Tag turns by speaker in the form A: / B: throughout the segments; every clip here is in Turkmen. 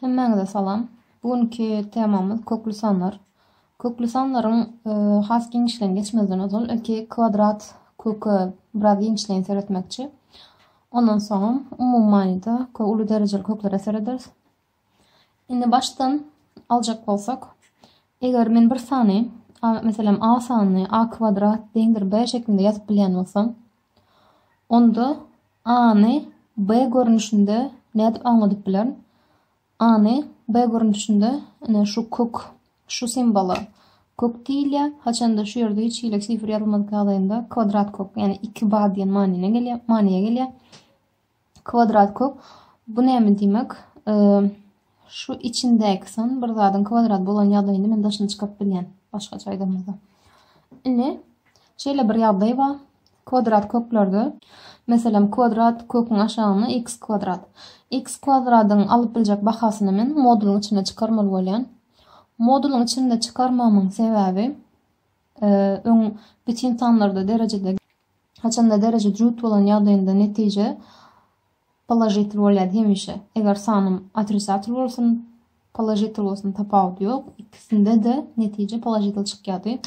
A: Hemmäňize salam. Bu günki temamyz kökli sanlar. Kökli sanlaryň e, has giňişleýin geçmezden ozal ilki kwadrat köke biraz giňişleýin seretmekçi. Ondan soňam umumy manyda köp uly derejeli köklere serederis. Indi başdan aljak bolsak, eger men bir sany, meselem a sanyny a kwadrat deňdir b şeklinde ýazyp bilýän bolsam, Onda A-ny B görnüşinde nädip aňladyp bilerin? A-ny B görnüşinde ine şu kök, şu simwola kök diýilýär. Haçanda şu ýerde hiç hili sifr ýazylmadyk ýagdaýynda kwadrat kök, ýagny iki ba diýen manyna gelýär, manyýa gelýär. Kwadrat kök bu näme diýmek? Şu içindäki san bir zadyň kwadrat bolan ýagdaýynda men daşyna çykaryp bilýän. Başgaça aýdamyzda. Indi şeýle bir ýagdaý bar. Kwadrat köklerde meselem kwadrat köküň aşagyna x kwadrat. X kwadradyň alyp biljek bahasyny men modulyň içinde çykarmaly bolýan. Modulyň içinde çykarmamyň sebäbi öň bütin sanlarda derejede Haçanda dereje jüt bolan ýagdaýynda netije položitel bolýar hemişe. Eger sanym otrisatel bolsun, položitel bolsun tapawudy ýok. Ikisinde-de netije položitel çykýardy.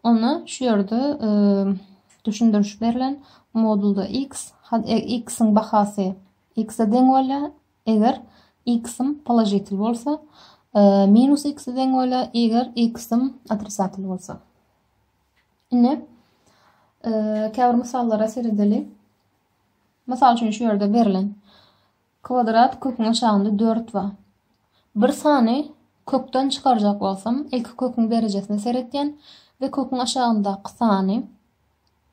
A: Onda şu ýerde e, düşündiriş berlen modulda x, e, x-iň bahasy x-e deň bolýar. Eger x-im položitel bolsa, e, minus x-e deň bolýar, eger x-im otrisatel bolsa. Indi käbir mysallara seredeli. Mysal üçin şu ýerde berlen kwadrat köküň aşagynda 4 bar. Bir sany kökden çykarjak bolsam, ilki köküň derejesine seretýän we köküň aşagyndaky sany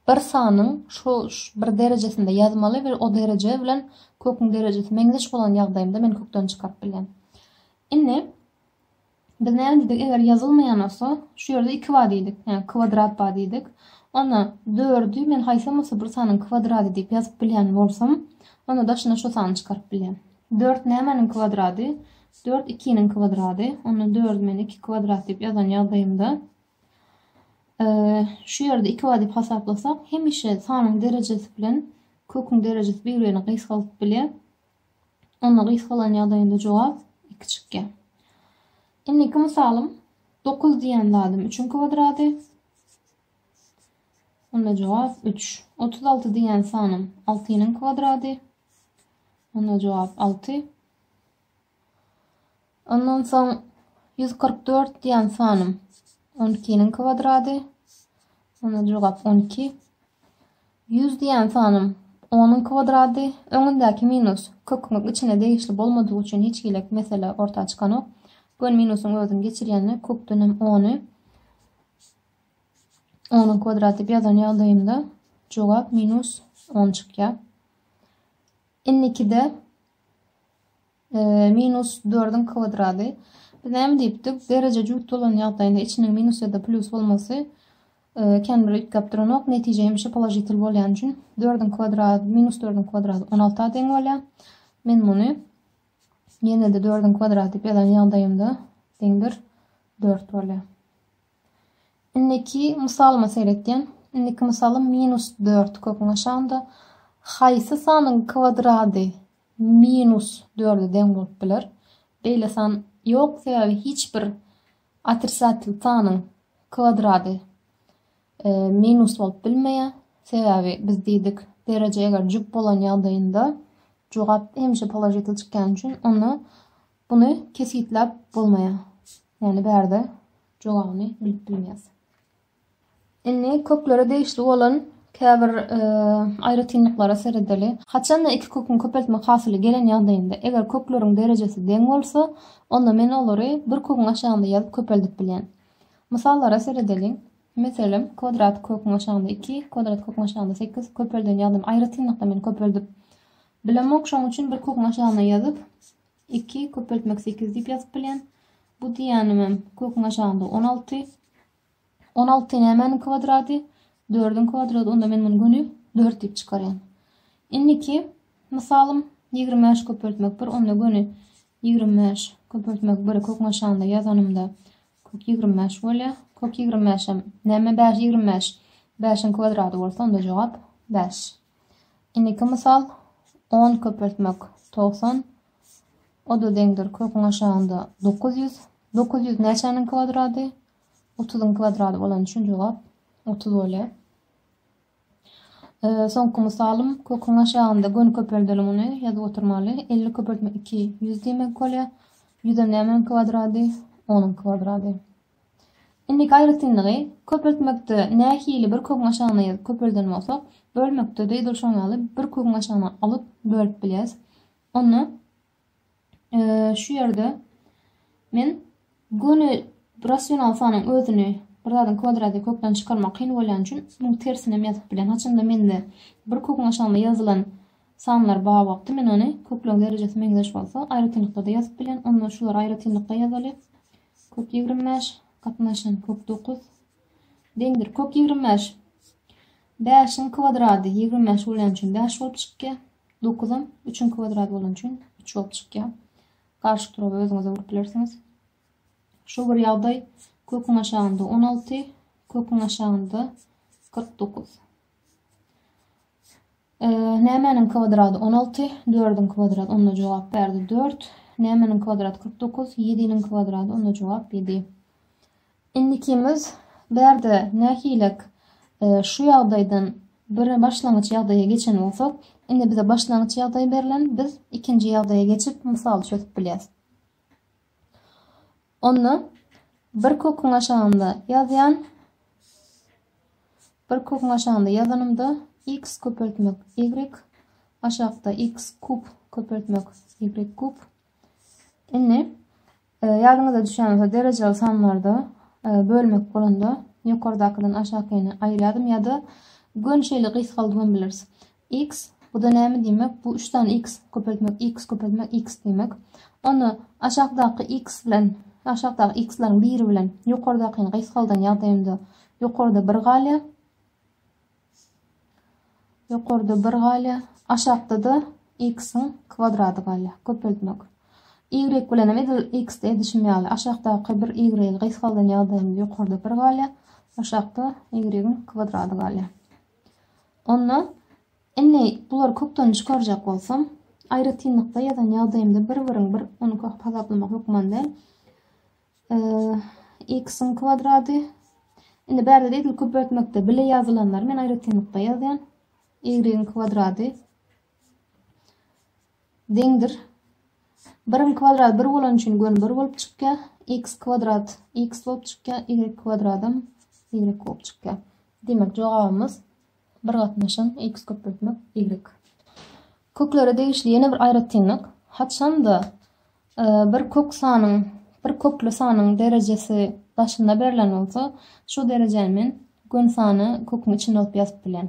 A: bir sanyň şu bir derejesinde ýazmaly we o dereje bilen köküň derejesi meňzeş bolan ýagdaýynda men kökden çykaryp bilýän. Indi Biz näme diýdik, eger ýazylmaýan bolsa, şu ýerde iki bar diýdik, ýagny kwadrat bar diýdik. Onda dördi men haýsam bolsa bir sanyň kwadrady diýip ýazyp bilýän bolsam, onda daşyna şu sany çykaryp bilýän. Dört nämäniň kwadrady? Dört ikiniň kwadrady. Onda dördi men iki kwadrat diýip ýazan ýagdaýymda, şu ýerde iki bar diýip hasaplasak, hemişe sanyň derejesi bilen köküň derejesi bir-birini gysgaldyp bilýär. Onda gysga bolan ýagdaýynda jogap iki çykýar. Indiki mysalym dokuz diýen zadym üçiň kwadrady. Onda jogap üç. Otuz alty diýen sanym altynyň kwadrady. Onda jogap alty. Ondan soň ýüz kyrk dört diýen sanym on ikiniň kwadrady. Onda jogap on iki. Ýüz diýen sanym onuň kwadrady. Öňündäki minus köküň içine degişli bolmadygy üçin hiç hili mesele orta çykanok. Gön minusyň özüni geçirýänine kökden hem ony onuň kwadrady diýip ýazan ýagdaýymda jogap minus on çykýar. Indikide Minus dördüň kwadrady. Biz näme diýipdik? Dereje jübüt bolan ýagdaýynda içiniň minus ýa-da plýus bolmasy kän bir üýtgäp duranok. Netije hemişe položitel bolýany üçin dördüň kwadrady, minus dördüň kwadrady on alta deň bolýar. Men muny ýene-de dördüň kwadrady diýip ýazan ýagdaýymda deňdir dört bolýar. Indiki mysalyma seretýän. Indiki mysalym minus dört köküň aşagynda. Haýsy sanyň kwadrady minus dörde deň bolup biler? Beýle san ýok, sebäbi hiç bir otrisatel sanyň kwadrady e, minus bolup bilmeýär. Sebäbi biz diýdik, dereje eger jüp bolan ýagdaýynda jogap hemişe položitel çykýan üçin ony Buny kesgitläp bolmaýar. Ýagny bärde jogabyny bilip bilmeýäs. Indi köklere degişli bolan käbir e, aýratynlyklara seredeli. Haçanda iki köküň köpeltme hasyly gelen ýagdaýynda, eger kökleriň derejesi deň bolsa, onda men olary bir köküň aşagynda ýazyp köpeldip bilýän. Mysallara seredeliň. Meselem, kwadrat köküň aşagynda 2, kwadrat köküň aşagynda 8 köpelden ýazdym. Aýratynlykda men köpeldip bilemok, şoň üçin bir köküň aşagyna ýazyp, Iki, köpeltmek sekiz diýip ýazyp bilýän. Bu diýýänimem köküň aşagynda on alty. On alty nämäniň kwadrady? Dördüň kwadrady. Onda men muny göni dört diýip çykarýan. Indiki mysalym ýigrimi bäş köpeltmek bir. Onda göni ýigrimi bäş köpeltmek biri köküň aşagynda ýazanymda kök ýigrimi bäş bolýar. Kök ýigrimi bäşem näme bäş ýigrimi bäş? Bäşiň kwadrady bolsa onda jogap bäş. Indiki mysal, On köpeltmek togsan, o-da deňdir köküň aşagynda dokuz ýüz. Dokuz ýüz näçäniň kwadrady? Otuzyň kwadrady bolany üçin jogap otuz bolýar. Soňky mysalym, köküň aşagynda göni köpeldelim ony, ýazyp oturmaly. Elli köpeltmek iki ýüz diýmek bolýar. Ýüzem nämäniň kwadrady? Onuň kwadrady. Indi gaýratynlygy köpeltmekde nähili bir kögüň aşagyna ýazyp köpelden bolsak, bölmekde-de edil şoň ýaly bir kögüň aşagyna alyp bölüp bilýäris. Onda şu ýerde men göni rasional sanyň özüni bir zadyň kwadrady kökden çykarmak kyn bolýan üçin munuň tersini hem ýazyp bilýän. Haçanda mende bir köküň aşagyna ýazylan sanlar bar wagty men ony kökleriň derejesi meňzeş bolsa aýratynlykda-da ýazyp bilýän. Onda şulary aýratynlykda ýazaly. Kök ýigrimi bäş, gatnaşan kök dokuz deňdir. Kök ýigrimi bäş. Bäşiň kwadrady ýigrimi bäş bolýan üçin bäş bolup çykýar. Dokuzam üçiň kwadrady bolan üçin üç bolup çykýar. Garşy turaby özüňize urup bilersiňiz. Şu bir ýagdaý köküň aşagynda on alty, köküň aşagynda kyrk dokuz. Nämäniň kwadrady on alty? Dördüň kwadrady onda jogap berdi dört. Nämäniň kwadrady kyrk dokuz? Ýediniň kwadrady onda jogap ýedi. Indikimiz bärde nähilek e, şu ýagdaýdan bir başlangyç ýagdaýa geçen bolsak, indi bize başlangyç ýagdaý berlen, biz ikinji ýagdaýa geçip mysaly çözüp bilýäs. Onda bir köküň aşagynda ýazýan bir köküň aşagynda ýazanymda x köpeltmek y aşakda x kub köpeltmek y kub Indi e, ýadyňyzda düşýän bolsa derejeli sanlarda e, bölmek bolanda ýokardakydan aşakyny aýyrýardym ýa-da gön şeýle gysgaldybam bileris. X, bu-da näme diýmek? Bu üç sany X köpeltmek, X köpeltmek, X diýmek. Onda aşakdaky X bilen, aşakdaky X-leriň biri bilen ýokardakyny gysgaldan ýagdaýynda ýokarda bir galýar. Ýokarda bir galýar. Aşakda-da X-iň kwadrady galýar. Köpeltmek. Y bilen hem edil X-de edişim ýaly. Aşakdaky bir Y gysgaldan ýagdaýynda ýokarda bir galýar. Aşakda Y-iň kwadrady galýar. Onda, indi bulary kökden çykarjak bolsam, aýratynlykda ýazan ýagdaýymda bir-biriň bir ony köki hasaplamak hökman däl. X-iň kwadrady. Indi bärde-de edil köpeltmekde bile ýazylanlary men aýratynlykda ýazýan. Y-iň kwadrady. deňdir. Biriň kwadrady bir bolany üçin göni bir bolup çykýar. X kwadrat x bolup çykýar. Y kwadradam y bolup çykýar. Demek, jogabymyz bir gatnaşan x köpeltmek y. Köklere degişli ýene bir aýratynlyk. Haçanda e, bir kök sanyň, bir kökli sanyň derejesi başynda berlen bolsa, şu derejäni men göni sany köküň içinde alyp ýazyp bilýän.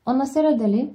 A: Onda seredeli.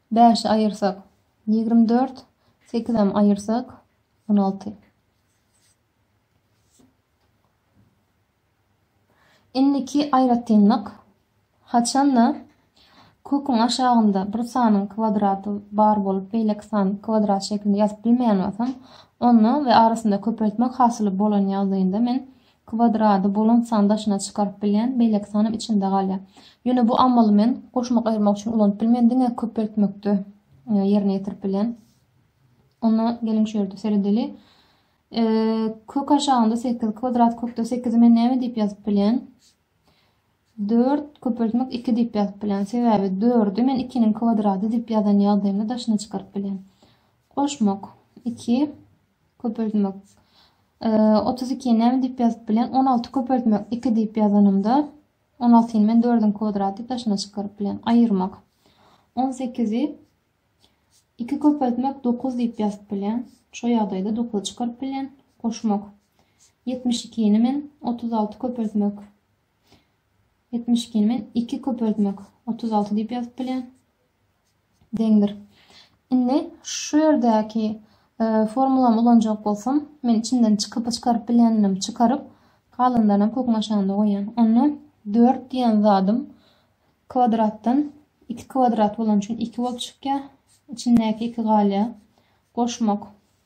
A: Bäşi aýyrsak, ýigrimi dört, sekizem aýyrsak, on alty. Indiki aýratynlyk, haçanda köküň aşagynda bir sanyň kwadraty bar bolup, beýleki san kwadrat şeklinde ýazyp bilmeýän bolsam, onda we arasynda köpeltmek hasyly bolan ýagdaýynda men kwadrady bolan sany daşyna çykaryp bilýän beýleki sanam içinde galýar. Ýöne bu amaly men goşmak-aýyrmak üçin ulanyp bilmen, diňe köpeltmekde ýerine ýetirip bilýän. Onda geliň şu ýerde seredeli. Kök aşagynda 8, kwadrat kökde 8-i men näme diýip ýazyp bilýän? 4 köpeltmek 2 diýip ýazyp bilýän. Sebäbi 4-i men 2-niň kwadrady diýip ýazan ýagdaýymda daşyna çykaryp bilýän. Goşmak 2 Köpeltmek. Otuz ikiýi näme diýip ýazyp bilen? On alty köpeltmek iki diýip ýazanymda, on altyny men dördüň kwadraty daşyna çykaryp bilen. Aýyrmak. On sekizi iki köpeltmek dokuz diýip ýazyp bilen. Şo ýagdaýda dokuzy çykaryp bilen. Goşmak. Ýetmiş ikini men otuz alty köpeltmek Ýetmiş ikini men iki köpeltmek otuz alty diýip ýazyp bilýän. Deňdir. Indi şu ýerdäki e, formulamy ulanjak bolsam, men içinden çykyp çykaryp bilýändim, çykaryp galanlaryny hem köküň aşagynda goýýan. Onda 4 diýen zadym kwadratdan 2 kwadrat bolan üçin 2 bolup çykýar. Içindäki 2 galýar. Goşmak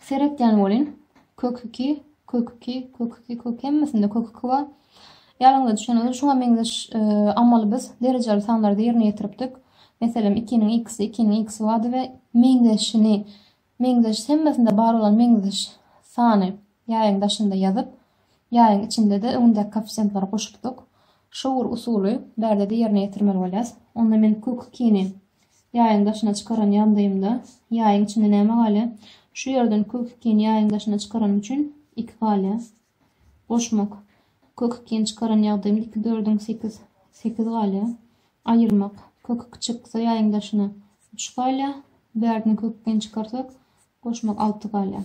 A: Seretýän bolyn. Kök iki, kök iki, kök iki, kök hemmesinde kök iki bar. Ýadyňyza düşen bolsa şuňa meňzeş amaly biz derejeli sanlarda ýerine ýetiripdik. Meselem, ikiniň ikisi, ikiniň ikisi bardy we meňzeşini, meňzeş hemmesinde bar bolan meňzeş sany Ýaýyň daşynda ýazyp, ýaýyň içinde-de öňündäki koeffisiýentlary goşupdyk. Şu bir usuly bärde-de ýerine ýetirmeli bolýas. Onda men Q ikini ýaýyň daşyna çykaran ýagdaýymda, ýaýyň içinde näme galýar? Şu ýerden Q ikini ýaýyň daşyna çykaranym üçin iki galýar. Goşmak. Q ikini çykaran ýagdaýymda iki dördüň sekiz, sekiz galýar. Aýyrmak. Q iki çyksa ýaýyň daşyna üç galýar. Bärdini Q ikini çykarsak, goşmak alty galýar.